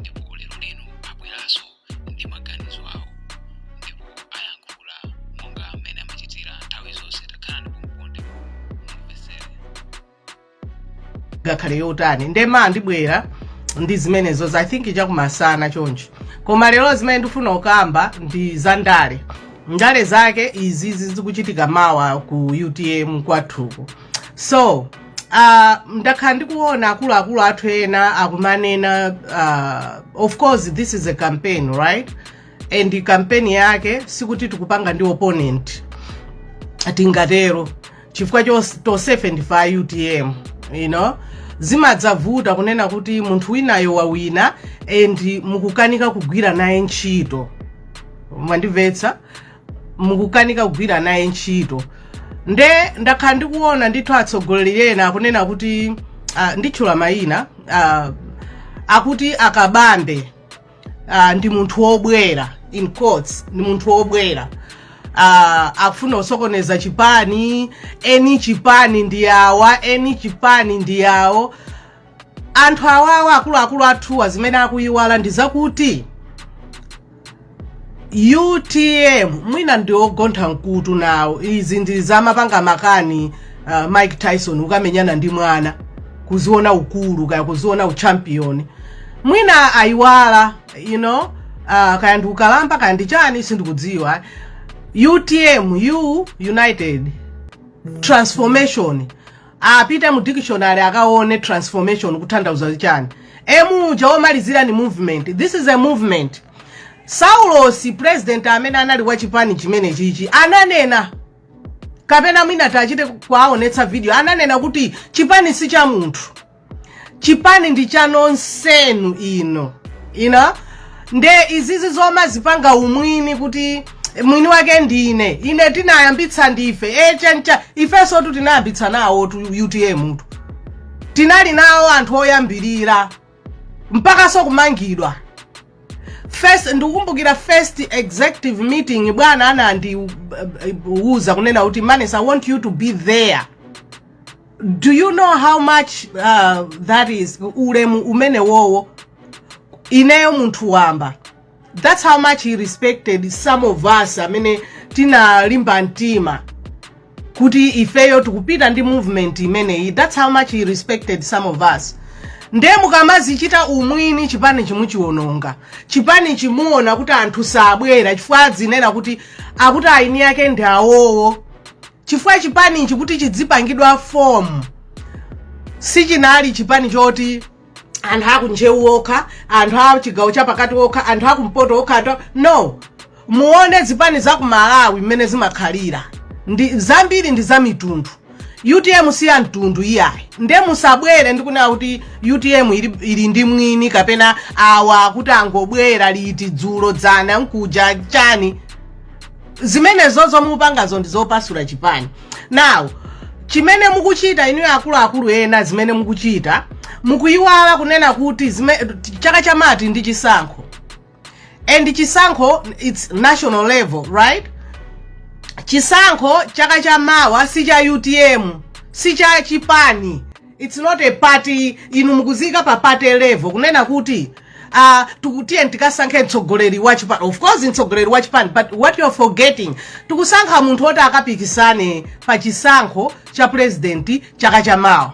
ndipo lero lino abweranso ndi maganizo awo ndipo ayankhula monga mmene amachitira nthawi zonse takhalani pompo ndi mumvetsere ngakhale yotani nde mwina ndibwera ndi zimenezo i think chakumasana chonchi koma lero zimene ndifuna kukamba ndi za ndale ndale zake izizi zikuchitika mawa ku utm kwathuko so Ah, ndakhala ndikuona akuluakulu athu ena akumanena ah, of course this is a campaign right and campaign yake sikuti tikupanga ndi opponent tingatero chifukwa to- tonsefe ndife a utm you know zimadzavuta kunena kuti munthu winayo wawina nde mukukanika kugwira naye ntchito mwandimvetsa mukukanika kugwira naye ntchito nde ndakhala ndikuona ndithu atsogoleri ena akunena kuti uh, nditchula mayina uh, akuti a Kabambe uh, ndi munthu wobwera in quotes ndi munthu wobwera uh, akufuna kusokoneza chipani eni chipani ndi awa eni chipani ndi awo anthu awawa akuluakulu athuwa zimene akuyiwala ndi zakuti utm mwina ndi ogontha mkutu nawo izi ndi zomapanga makani uh, mike tyson kukamenyana ndi mwana kudziona ukulu kaya kudziona uchampion mwina ayiwala you know uh, kaya ndi ukalamba kaya ndi chani sindikudziwa utm u united transformation apite mu dictionary akaone transformation kutanthauza chani emu uja omalizirayo ndi movement this is a movement saulosi president amene anali wa chipani chimene chichi ananena kapena mwina tichite kuwaonetsa video ananena kuti chipani si cha munthu chipani ndi cha nonsenu you know nde izizi zomadzipanga umwini kuti mwini wake ndine ine tinayambitsa ndife e chancha ifensotu tinayambitsa nawotu utm-tu tinali nawo anthu oyambirira mpakanso kumangidwa first ndikukumbukira first executive meeting bwana anandiuza kunena kuti manes i want you to be there do you know how much uh, that is ulemu umenewowo ineyo munthu wamba that's how much he respected some of us amene tinalimba mtima kuti ifeyo tikupita ndi movement imeneyi that's how much he respected some of us nde mukamadzichita umwini chipanichi muchiwononga chipanichi muona kuti anthu sabwera chifukwa azinena kuti akuti eni ake ndi awowo chifukwa chipanichi kuti chidzipangidwa fomu sichinali chipani choti anthu akuncheu okha anthu a chigawo chapakati okha anthu akumpoto okha anthu a- no muone zipani za ku malawi mmene zimakhalira ndi zambiri ndi za mitundu utm si ya mtundu iyayi nde musabwere ndikunena kuti utm ili, ili ndi mwini wake kapena awa kuti angobwera liti dzulo dzana nkuja chani zimenezozo mupangazo ndi zopasula chipani now chimene mukuchita inuyo akuluakulu ena zimene mukuchita mukuyiwala kunena kuti zime, chaka cha mawa ndi chisankho and chisankho its national level right chisankho chaka cha mawa si cha utm si cha chipani it's not a party inu mukuziika pa party level kunena kuti uh, tikuti tiyeni tikasankhe mtsogoleri wa chipani of course mtsogoleri wa chipani but what you're forgetting tikusankha munthu woti akapikisane pa chisankho cha president chaka cha mawa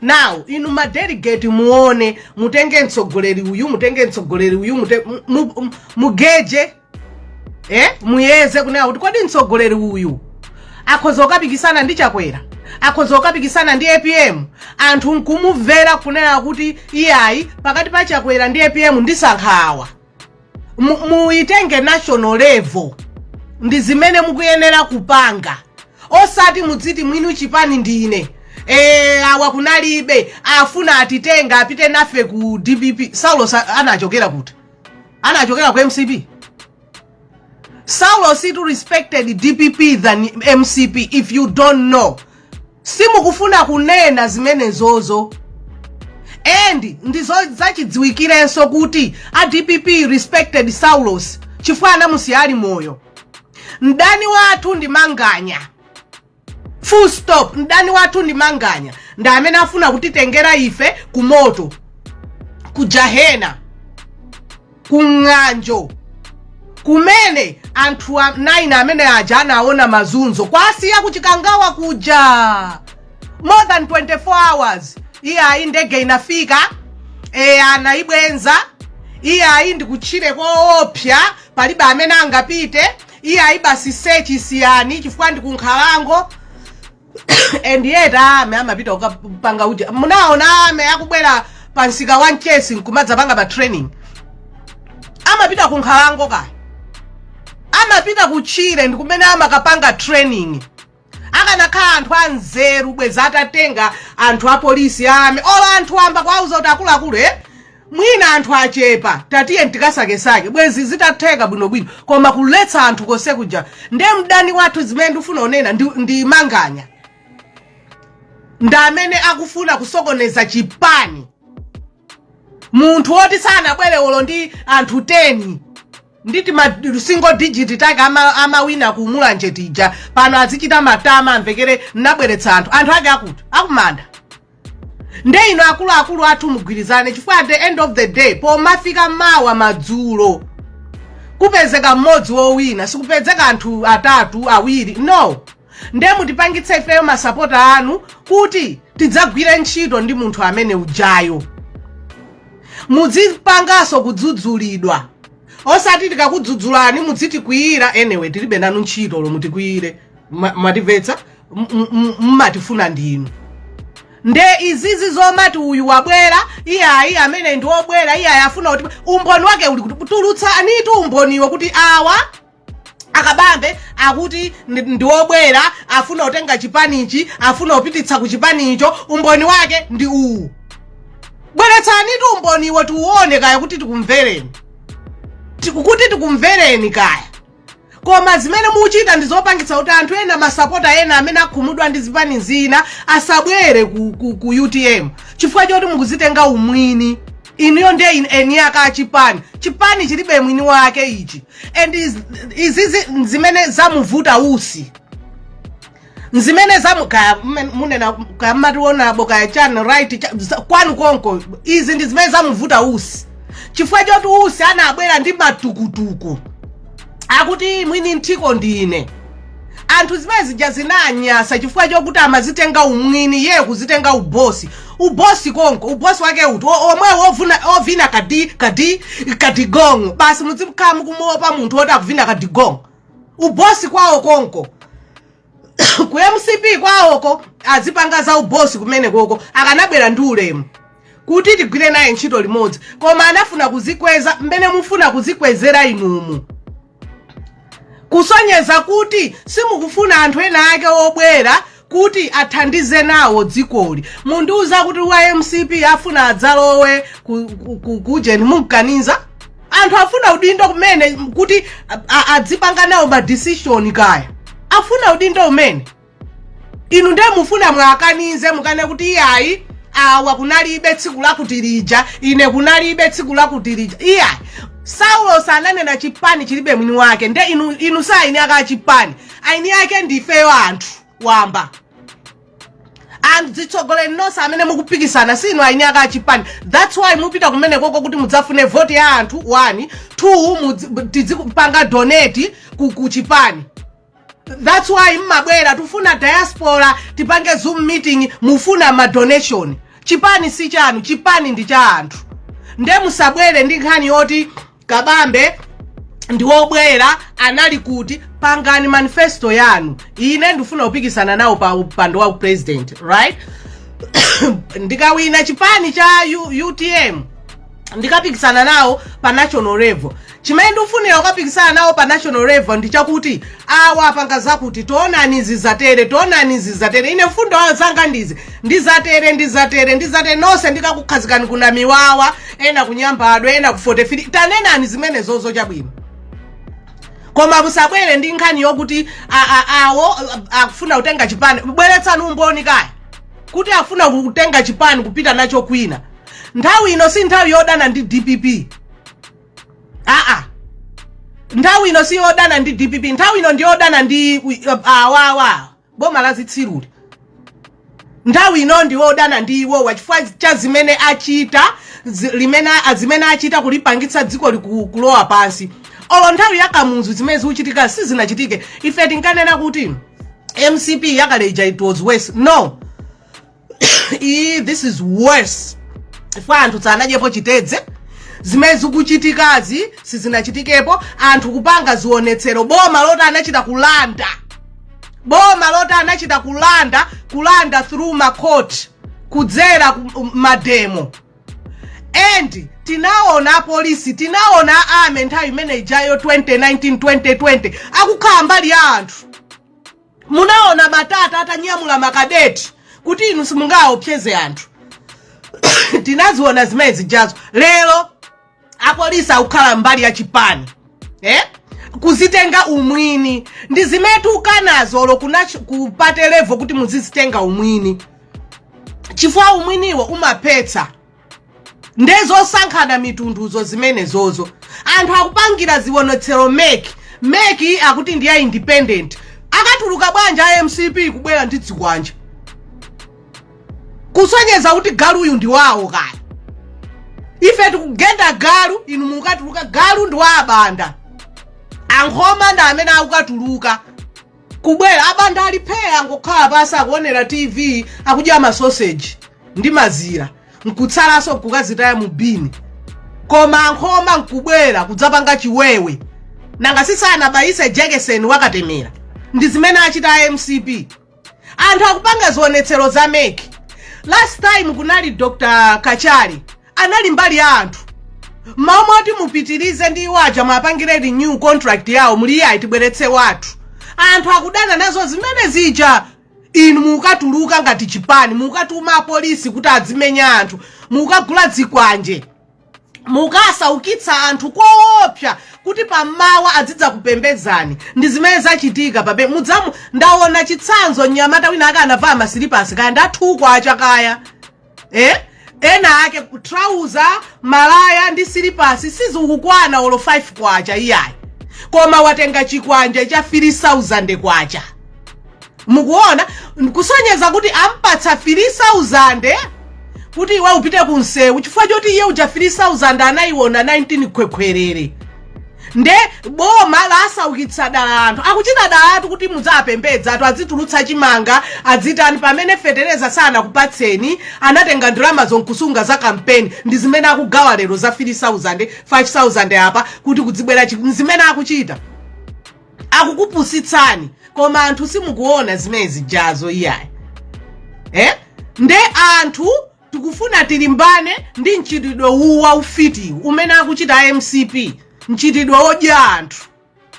now inu madelegate muone mutenge mtsogoleri uyu mutenge mtsogoleri uyu mute- mu- mu- mugeje eh muyeze kunena kuti kodi mtsogoleri uyu akhoza kukapikisana ndi chakwera akhoza kukapikisana ndi apm anthu nkumumvera kunena kuti iyayi pakati pa chakwera ndi apm ndisankha awa Mu- muyitenge national level ndi zimene mukuyenera kupanga osati mudziti mwini chipani ndine e, awa kunalibe afuna atitenga apite nafe ku dpp saulos anachokera kuti anachokera ku mcp saulos itu respected dpp than mcp if you don't know simukufuna kunena zimenezozo and ndizo zachidziwikirenso kuti a dpp respected saulos chifukwa anamusiya ali moyo mdani wathu ndi manganya full stop mdani wathu ndi manganya ndi amene afuna kutitengera ife ku moto ku jahena ku ng'anjo kumene anthu 9 amene aja anaona mazunzo kuwasiya kuchikangawa kuja more than 24 hours iye ayi ndege inafika e, anayibwenza iye ayi ndikutchire koopsya palibe amene angapite iye ayi basi sechi siyani chifukwa ndi kunkhalango and yet a army amapita kukapanga uja munaona army akubwera pa msika wa mchesi nkumadzapanga pa training amapita kunkhalango kaya amapita kutchire ndi kumene amakapanga training akanakhala anthu anzeru bwezi atatenga anthu apolisi ame olo anthu wamba kuwauza kuti akuluakulu e mwina anthu achepa tatiyeni tikasakesake bwezi zitatheka bwinobwino koma kuletsa anthu konse kuja nde mdani wathu zimene ndifuna kunena ndi, ndi manganya ndi amene akufuna kusokoneza chipani munthu woti sanabwere olo ndi anthu 10 ndi ti ma single digit take ama- amawina ku mulanje tija pano azichita matama amvekere ndinabweretsa anthu anthu ake akuti akumanda nde inu akuluakulu athu mugwirizane chifukwa at the end of the day pomafika mawa madzulo kupezeke mmodzi wowina sikupezeka anthu atatu awiri no nde mutipangitse ifeyo masapota anu kuti tidzagwire ntchito ndi munthu amene ujayo mudzipanganso kudzudzulidwa osati tikakudzudzulani mudzitikwiyira anyway tilibe nanu ntchito olo mutikwiyire Ma- mwatimvetsa M- m- m- mmatifuna ndinu nde izizi zomati uyu wabwera iyayi amene ndi wobwera iyayi afuna kuti umboni wake uli kuti tulutsanitu umboniwo kuti awa a kabambe akuti ndi- ndiwobwera afuna kutenga chipanichi afuna kupititsa ku chipanicho umboni wake ndi uwu bweretsanitu umboniwo tiuone kaya kuti tikumvereni Ti- kuti tikumvereni kaya koma zimene muchita ndi zopangitsa kuti anthu ena masapota ena amene akhumudwa ndi zipani zina asabwere ku, ku, ku utm chifukwa choti mukuzitenga umwini inuyo ndi eni ake a chipani chipani chilibe mwini wake ichi and iz- izizi zimene zamuvuta usi nzimene zamu- kaya mmen- munena kaya mmatiwonabo kaya channel right cha- za- kwanu konko izi ndi zimene zamuvuta usi chifukwa choti usi anabwera ndi matukutuku akuti mwini nthiko ndine anthu zimene zija zinanyasa chifukwa chokuti amazitenga umwini ye kuzitenga ubosi ubosi konko ubosi wake uti O- omwe wov- ovina kadi kadi kadigongo basi mudzikhala mukumuopa munthu woti akuvina kadigongo ubosi kwawo konko ku mcp kwawoko azipanga za ubosi kumene koko akanabwera ndi ulemu kuti tigwire naye ntchito limodzi koma anafuna kuzikweza mmene mufuna kuzikwezera inumu kusonyeza kuti simukufuna anthu ena ake obwera kuti athandize nawo dzikoli mundiuza kuti wa mcp afuna adzalowe ku- ku- ku- kujeni mukumkaniza anthu afuna udindo kumene m- kuti a- a- adzipanga nawo ma decision kaya afuna udindo umene inu ndiye mufuna mwakanize mukane kuti iyayi awa kunalibe tsiku lakuti lija ine kunalibe tsiku lakuti lija iyayi Saulos ananena chipani chilibe mwini wake nde inu, inu sa aini ake chipani aini ake ndifeyo anthu wamba azitsogoleri nonse amene mukupikisana sinu aini ake achipani thats why mupita kumenekoko kuti mudzafune voti ya anthu one two mudzi- tidzipanga donate ku, ku chipani thats why mmabwera tufuna diaspora tipange zoom meeting mufuna ma donation chipani si chanu chipani ndi cha anthu nde musabwere ndi nkhani yoti kabambe ndi wobwera anali kuti pangani manifesto yanu ine ndifuna kupikisana nawo pa upando wa president right ndikawina chipani cha U- utm ndikapikisana nawo pa national level chimene ndikufunira kukapikisana nawo pa national level ndi chakuti awa apanga zakuti taonani zizatere taonani zizatere ine mfundo zanga ndizi ndizatere ndizatere ndizatere nonse ndikakukhazikani kunamiwawa ena kunyambadwe ena ku 43 tanenani zimenezozo chabwino koma musabwere ndi nkhani yokuti a- a- awo a- akufuna kutenga chipani bweretsani umboni kaya kuti afuna kutenga chipani kupita nacho kwina nthawi ino si nthawi yodana ndi dpp aa nthawi ino si yodana ndi dpp nthawi ino ndi yodana ndi uh, awawa boma la zitsiruli nthawi ino ndi yodana ndi iwowa chifukwa cha zimene achita zi- limene a- zimene achita kulipangitsa dziko liku- kulowa pansi olo nthawi ya kamuzu zimene zikuchitika sizinachitike ife tinkanena kuti mcp yakale ija it was worse no iyi this is worse chifukwa anthu sanadyepo chitedze zimene zikuchitikazi sizinachitikepo anthu kupanga zionetsero boma loti anachita kulanda boma loti anachita kulanda kulanda through ma court kudzera ku- um, mademo and tinaona apolisi tinaona a army nthawi imene ijayo 2019 2020 akukhala mbali ya anthu munaona matata atanyamula makadeti kuti inu simungaopseze anthu tinaziona zimene zijazo lero apolisi akukhala mbali ya chipani eh? kuzitenga umwini ndi zimene tiukanazo olo kuna ch- ku party level kuti muzizitenga umwini chifukwa umwiniwo umaphetsa ndezosankhana mitunduzo zimenezozo anthu akupangira zionetsero MEC MEC akuti ndi ya independent akatuluka bwanji a mcp kubwera ndi dzikwanje kusonyeza kuti galu uyu ndi wawo nkhani ife tikugenda galu inu mukatuluka galu ndi wa abanda ankhoma ndi amene akukatuluka kubwera abanda ali phee angokhala pansi akuonera tv akudya masoseji ndi mazira nkutsalanso nkukazitaya mu bini koma ankhoma nkubwera kudzapanga chiwewe nanga sisanabayise jekeseni wa katemera ndi zimene achita a mcp anthu akupanga zionetsero za MEC last time kunali dr kachali anali mbali ya anthu mumati mupitirize ndi iwo aja muwapangire renew contract yawo muli iyayi tibweretse wathu anthu akudana nazo zimene zija inu mukatuluka ngati chipani mukatuma apolisi kuti adzimenye anthu mukagula dzikwanje mukasaukitsa anthu koopsa kuti pamawa adzidzakupembedzani ndi zimene zachitika pa Mbowe muja mu ndaona chitsanzo mnyamata wina ake anavala masilipasi kaya ndi a Thuko achakaya eh? ena ake trouser malaya ndi silipasi sizikukwana olo 5 kwacha iyayi koma watenga chikwanje cha 3000 kwacha mukuona kusonyeza kuti ampatsa 3000 kuti iwe upite ku msewu chifukwa choti iye uja 3000 anayiona 19 khwekhwerere nde boma lasaukitsa dala anthu akuchita dala anthu kuti mudzapembedza athu adzitulutsa chimanga adzitani pamene fetereza sanakupatseni anatenga ndalamazo nkusunga za kampeni ndi zimene akugawa lero za 3000 5000 apa kuti kudzibwera chi- ndi zimene akuchita akukupusitsani koma anthu simukuona zimene zijazo iyayi eh? nde anthu Tikufuna tilimbane ndi mchitidwe uwu wa ufitiwu umene akuchita a mcp, mchitidwe odya anthu.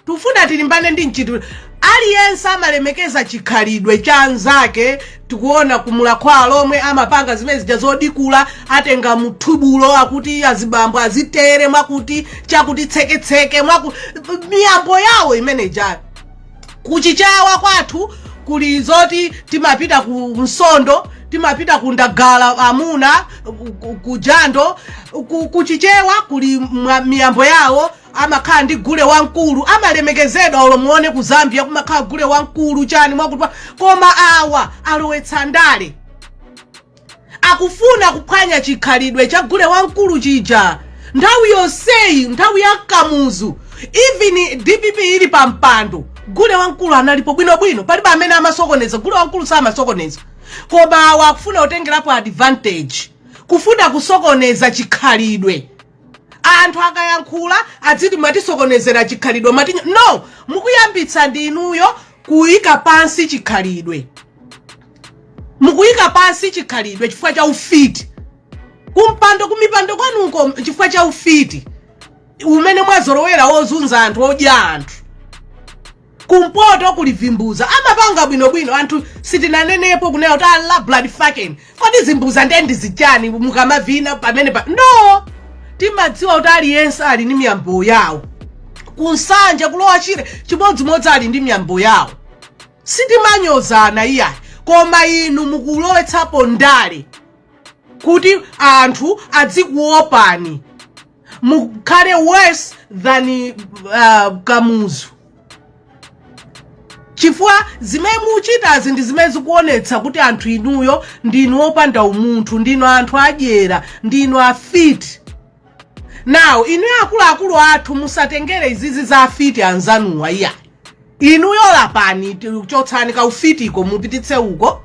Tikufuna tilimbane ndi mchitidwe, aliyense amalemekeza chikhalidwe cha anzake, tikuona ku Mulakho Alomwe amapanga zimene zija zodikula, atenga mthubulo akuti azibambo azitere mwakuti, chakuti tseketseke mwaku, miyambo yawo imene ijayo. kuchiyao kwathu kuli zoti timapita ku msondo timapita ku ndagala amuna ku- ku- ku jando ku- kuchichewa kuli mwa- miyambo yawo amakhala ndi gule wamkulu amalemekezedwa olo muone ku zambia kumakhala gule wamkulu chani mwakuti pa- koma awa alowetsa ndale akufuna kuphwanya chikhalidwe cha gule wamkulu chija nthawi yonseyi nthawi ya kamuzu even dpp ili pa mpando gule wamkulu analipo bwinobwino palibe amene amasokoneza gule wamkulu samasokoneza koma awa akufuna kutengerapo advantage kufuna kusokoneza chikhalidwe anthu akayankhula adziti mwatisokonezera chikhalidwe mwatinyoza no mukuyambitsa ndi inuyo kuyika pansi chikhalidwe mukuyika pansi chikhalidwe chifukwa cha ufiti kumpando kumipando kwanuko chifukwa cha ufiti umene mwazolowera wozunza anthu wodya anthu kumpoto kuli vimbuza amapanga bwinobwino anthu sitinanenepo kunena kuti ala blood fucking kodi vimbuza ndiye ndi zichani mukamavina pamenepa no timadziwa kuti aliyense ali ndi miyambo yawo ku nsanje ku lower shire chimodzimodzi ali ndi miyambo yawo sitimanyozana iyayi koma inu mukulowetsapo ndale kuti anthu adzikuopani mukhale worse than uh, kamuzu chifukwa zimene muchitazi ndi zimene zikuonetsa kuti anthu inuyo ndinu opanda umunthu ndinu anthu adyera ndinu afiti now inu akuluakulu athu musatengere izizi za afiti anzanuwa iyayi inuyo lapani chotsani kaufitiko mupititse uko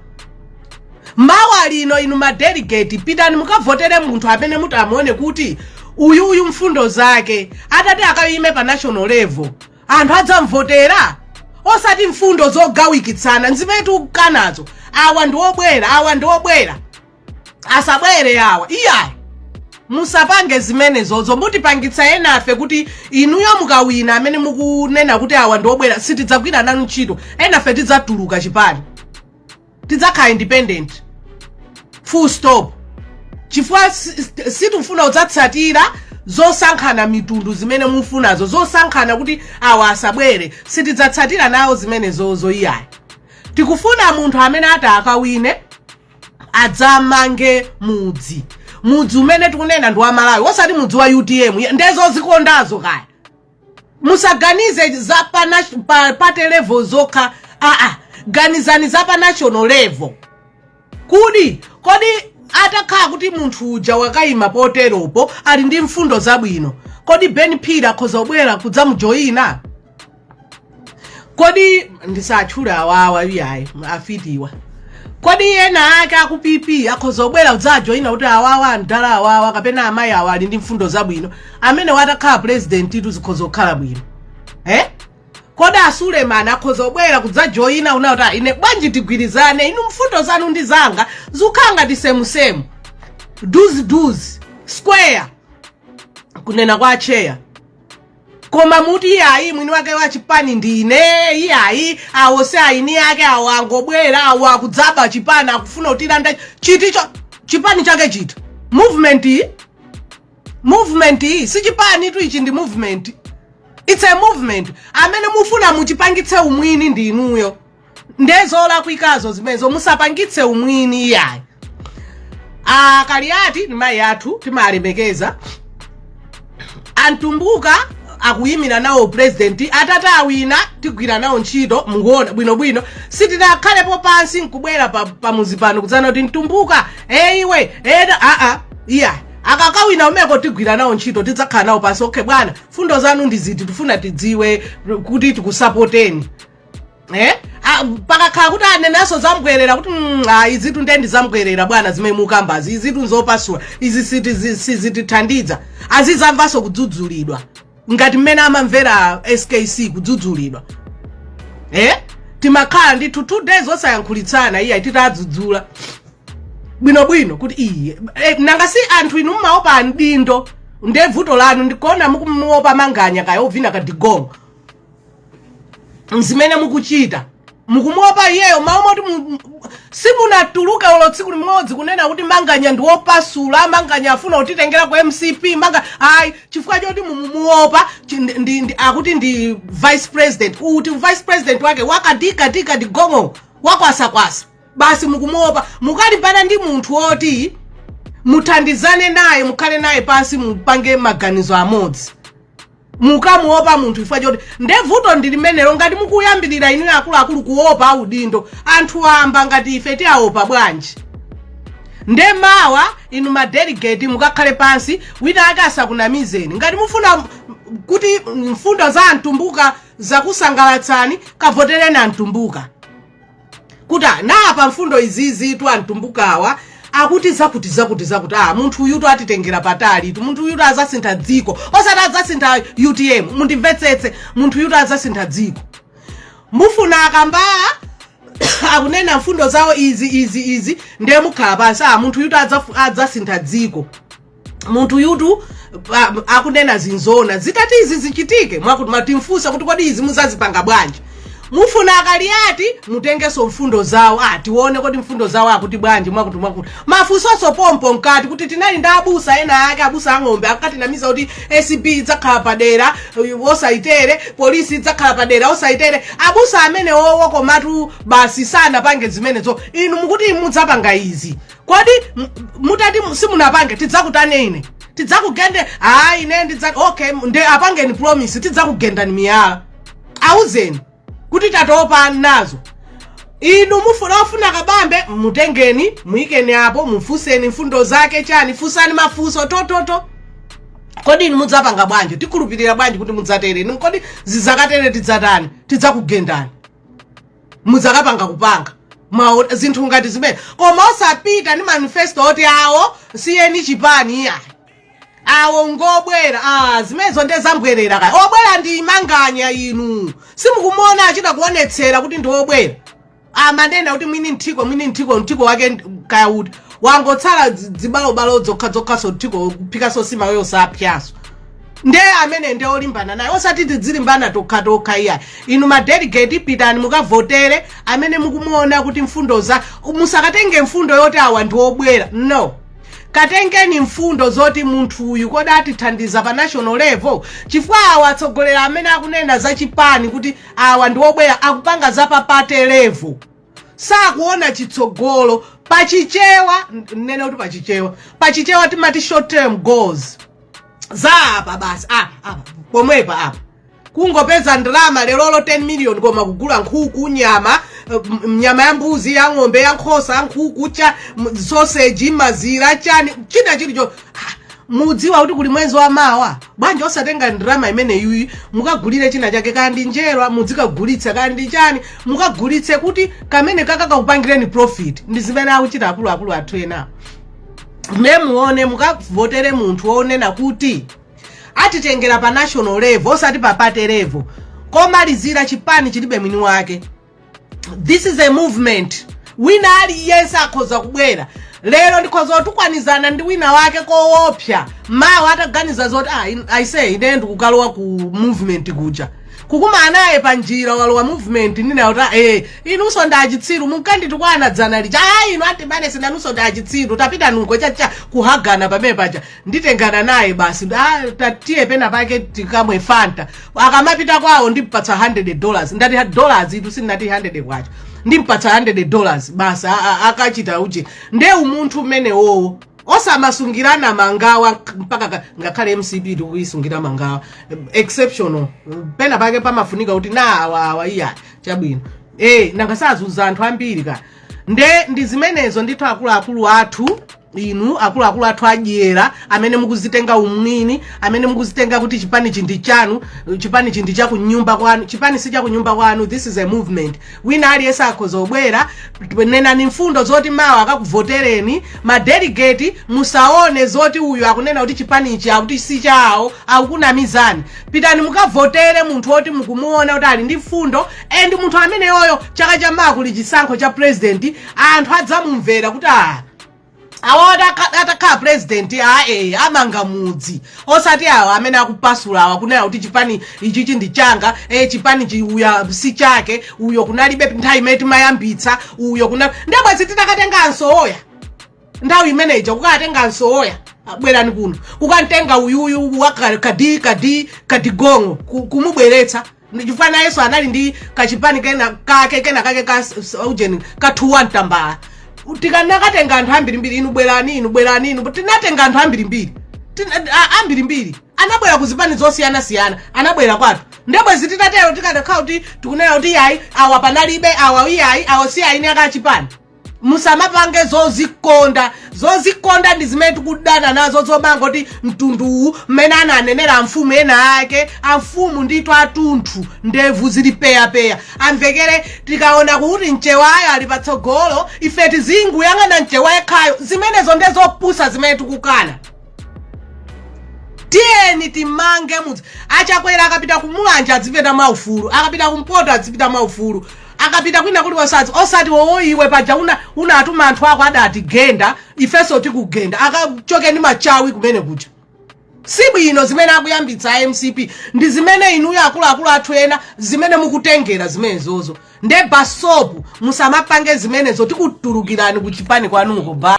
mawa lino inu madelegate pitani mukavotere munthu amene mutamuone kuti uyu uyu mfundo zake atati akayime pa national level anthu adzamvotera osati mfundo zogawikitsana mzipatukanazo awa ndi obwera awa ndi obwera asabwere awa iyayi musapange zimenezozo mutipangitsa enafe kuti inuyo mukawina amene mukunena kuti awa ndiobwera sitidzagwira nanu ntchito enafe tidzatuluka chipani tidzakhala independent full stop chifukwa si- si- sitifuna kudzatsatira zosankhana mitundu zimene mufunazo zosankhana kuti awa asabwere sitidzatsatira nawo zimenezozo iyayi tikufuna munthu amene ati akawine adzamange mudzi mudzi umene tikunena ndi wa malawi osati mudzi wa utm Ye- ndiye zozikondazo kaya musaganize za pa, nat- pa party level zokha aa ganizani za pa national level kuti kodi atakhala kuti munthu uja wakayima poteropo ali ndi mfundo zabwino kodi ben phiri akhoza kubwera kudzamujoyina kodi ndisatchule awawa iyayi afiti awa kodi ena ake aku pp akhoza kubwera kudzajoyina kuti awawa amdala awawa kapena amayi awa ali ndi mfundo zabwino amene watakhala presidentitu zikhoza kukhala bwino eh? kodi asulemani akhoza kubwera kudzajoyina nawo kuti "Ah, ine bwanji tigwirizane inu mfundo zanu ndi zanga zukhala ngati semusemu duzi duzi square kunena kwa acheya koma muti iyayi mwini wake wa chipani ndine iyayi awo si eni ake awo angobwera awo akudzaba chipani akufuna kutilanda chiticho chipani chake chiti movement iyi movement iyi si chipanitu ichi ndi movement it's a movement amene mufuna muchipangitse umwini ndi inuyo nde zolakwikazo zimenezo musapangitse umwini iyayi ah, kaliati ndi mayi athu timalemekeza amtumbuka akuyimira nawo president atati awina tigwira nawo ntchito mukuona bwinobwino sitinakhalepo pansi nkubwera pa, pa muzi pano kudzanena kuti mtumbuka e iwe ena aa iya akakawina umeko tigwira nawo ntchito tidzakhala nawo pansi okay bwana mfundo zanu ndi ziti tifuna tidziwe kuti tikusapoteni eh? Ah, pakakhala kuti anenaso zambwerera kuti mm, ah, izitu nde ndi zambwerera bwana zimene mukambazi izitu nzopasula izi siti- zi- sizitithandiza azizamvanso kudzudzulidwa ngati mmene amamvera skc kudzudzulidwa eh? timakhala ndithu two days osayankhulitsana iye titadzudzula bwinobwino kuti iye eh, nanga si anthu inu mmaopa audindo nde vuto lanu ndikuona muku- muopa manganya kaya ovina kadigongo nzimene mukuchita mukumuopa iyeyo mawu moti mu- mu- simunatuluke olo tsiku limodzi kunena kuti manganya ndi wopasula manganya afuna kutitengera ku mcp manga ayi chifukwa choti mumuopa chi- ndi- ndi- ndi- akuti ndi vice president uti vice president wake wakadi- kadi- kadigongo wakwasakwasa basi mukumuopa mukalimbana ndi munthu woti muthandizane naye mukhale naye pansi mupange maganizo amodzi mukamuopa munthu chifukwa choti nde vuto ndi limenelo ngati mukuyambirira inuyo akuluakulu kuopa audindo anthu amba ngati ife tiaopa bwanji nde mawa inu madelegate mukakhale pansi wina ake asakunamizeni ngati mufuna m- m- kuti mfundo za amtumbuka zakusangalatsani kavotereni amtumbuka kuti ah, napa mfundo izizitu amtumbukawa akuti zakuti zakuti zakuti ah munthu uyutu atitengera patalitu munthu uyutu azasintha dziko osati azasintha utm mundimvetsetse munthu uyutu azasintha dziko mufuna akambala akunena mfundo zawo izi izi izi ndiye mukhala pansi ah munthu uyutu adzafu- adzasintha dziko munthu uyutu pa- akunena zinzona zitati izi zichitike mwakuti mutimfunsa kuti kodi izi muzazipanga bwanji mufuna akaliyati mutengenso mfundo zawo ah tione kodi mfundo zawo akuti bwanji mwakuti mwakuti mafunsoso pompo mkati kuti tinali ndi abusa ena ake abusa ang'ombe akatinamiza kuti acb idzakhala padera yosayitere polisi idzakhala padera wosayitere abusa amenewowo komatu basi sanapange zimenezo inu mukuti mudzapanga izi kodi m- mutati mu- simunapange tidzakutani ine tidzakugende ayi ine ndidza okay nde apangeni promise tidzakugendani miyala awuzeni kuti tatopa nazo inu mufuna ofuna kabambe mutengeni muyikeni apo mufunseni mfundo zake chani fusani mafunso tototo kodi inu mudzapanga bwanji tikhulupirira bwanji kuti mudzatere inu kodi zizakatere tidzatani tidzakugendani mudzakapanga kupanga Mwa- zinthu ngati zimene koma osapita ndi manifesto oti awo siyeni chipani iyayi awo ngobwera ah, zimenezo nde zambwerera kaya obwera ndi manganya inu simukumuona achita kuonetsera kuti ndi obwera amanena kuti mwini mthiko mwini mthiko mthiko wake ndi- kaya uti wangotsala dzi- dzibalobalo dzokhadzokhaso mthiko kuphika nsima yosapsyaso nde amene nde olimbana naye osati tidzilimbana tokha tokha iyayi inu madelegate pitani mukavotere amene mukumuona kuti mfundo za musakatenge mfundo yoti awa ndi obwera no katengeni mfundo zoti munthu uyu kodi atithandiza pa national level chifukwa awa atsogoleri amene akunena za chipani kuti awa ndi obwera akupanga za pa party level sakuona chitsogolo pachichewa nene kuti pachichewa pachichewa timati short term goals za apa basi apa apa pomwepa apa kungopeza ndalama lerolo 10 million koma kugula nkhuku nyama eh, m- m- nyama ya mbuzi ya ng'ombe ya nkhosa nkhuku cha m- sausage mazira chani china chilicho Ah, mudziwa kuti kuli mwezi wa mawa bwanji osatenga ndalama imeneyi mukagulire china chake kaya ndi njerwa mudzikagulitsa kaya ndi chani mukagulitse kuti kamene kakakakupangireni profit ndi zimene akuchita akuluakulu athu enawo ndiye muone mukavotere munthu wonena kuti atitengera pa national level osati pa party level komalizira chipani chilibe mwini wake this is a movement wina aliyense akhoza kubwera lero ndikhoza kutukwanizana ndi wina wake koopsa mawa ataganiza zoti "Ah, in- I say ine ndikukalowa ku movement kuja kukumana naye pa njira walowa movement nina kuti eh inunso ndi achitsiru munkanditukwana dzana lija ah inu atibane si inunso ndi achitsiru tapita nkungoyamba kuhagana pamene paja nditengana naye basi ah tatiye pena pake tikamwe fanta akamapita kwawo ndimpatsa 100 dollars ndati ha- dollars itu sinati 100 kwacha ndimpatsa 100 dollars basi a- a- akachita uchi nde umunthu umenewowo osamasungirana mangawa mpaka ka- ngakhale mcp tikuyisungira mangawa exceptional pena pake pamafunika kuti na awa awa iya chabwino e nanga sazuza anthu ambiri ka nde ndi zimenezo ndithu akuluakulu athu inu akuluakulu athu adyera amene mukuzitenga umwini amene mukuzitenga kuti chipanichi ndi chanu chipanichi ndi chakunyumba kwanu chipani si chakunyumba kwanu this is a movement wina aliyense akhoza kubwera nenani mfundo zoti mawa akakuvotereni madelegate musaone zoti uyu akunena kuti chipanichi akuti si chawo akukunamizani pitani mukavotere munthu woti mukumuona kuti ali ndi mfundo and munthu ameneyoyo chaka chamawa kuli chisankho cha president anthu adzamumvera kuti ah awa atakhala president ae amanga mudzi osati awa amene akupasula awa kunena kuti chipani ichichi ndi changa e chipanichi uyo si chake uyo kunalibe nthawi imene timayambitsa uyo kuna ndebwezi titakatenga a Msowoya nthawi imene ija kukatenga a Msowoya bwerani kuno kukamtenga uyuyu wakadi kadi kadigong'o kumubweretsa chifukwa nayenso anali ndi kachipani kena kake kena kake ka s- s- ujeni ka two tambala tikanakatenga anthu ambirimbiri inu bwerani inu bwerani inu tinatenga anthu ambirimbiri Tina- a- ambirimbiri anabwera ku zipani zosiyanasiyana anabwera kwathu ndebwezi titatero tikadakhala kuti tikunena kuti iyayi awa panalibe awa iyayi awa si eni ake a chipani musamapange zozikonda zozikonda ndi zimene tikudana nazo zomangoti mtunduwu mmene ananenera amfumu ena ake amfumu ndithu atunthu ndevu zili peyapeya amvekere tikaona kuti mchewayo ali patsogolo ife tizingoyang'ana mchewa yekhayo zimenezo nde zopusa zimene tikukana tiyeni timange mudzi a Chakwera akapita ku Mulanje adzipita mwaufulu akapita kumpoto adzipita mwaufulu akapita kwina kulikonse azi osati oo iwe paja una unatuma anthu ako adatigenda ifenso tikugenda akachoke ndi machawi kumene kuja si bwino zimene akuyambitsa a mcp ndi zimene inuyo akuluakulu athu ena zimene mukutengera zimenezozo nde basopu musamapange zimenezo tikutulukirani ku chipani kwanuko ba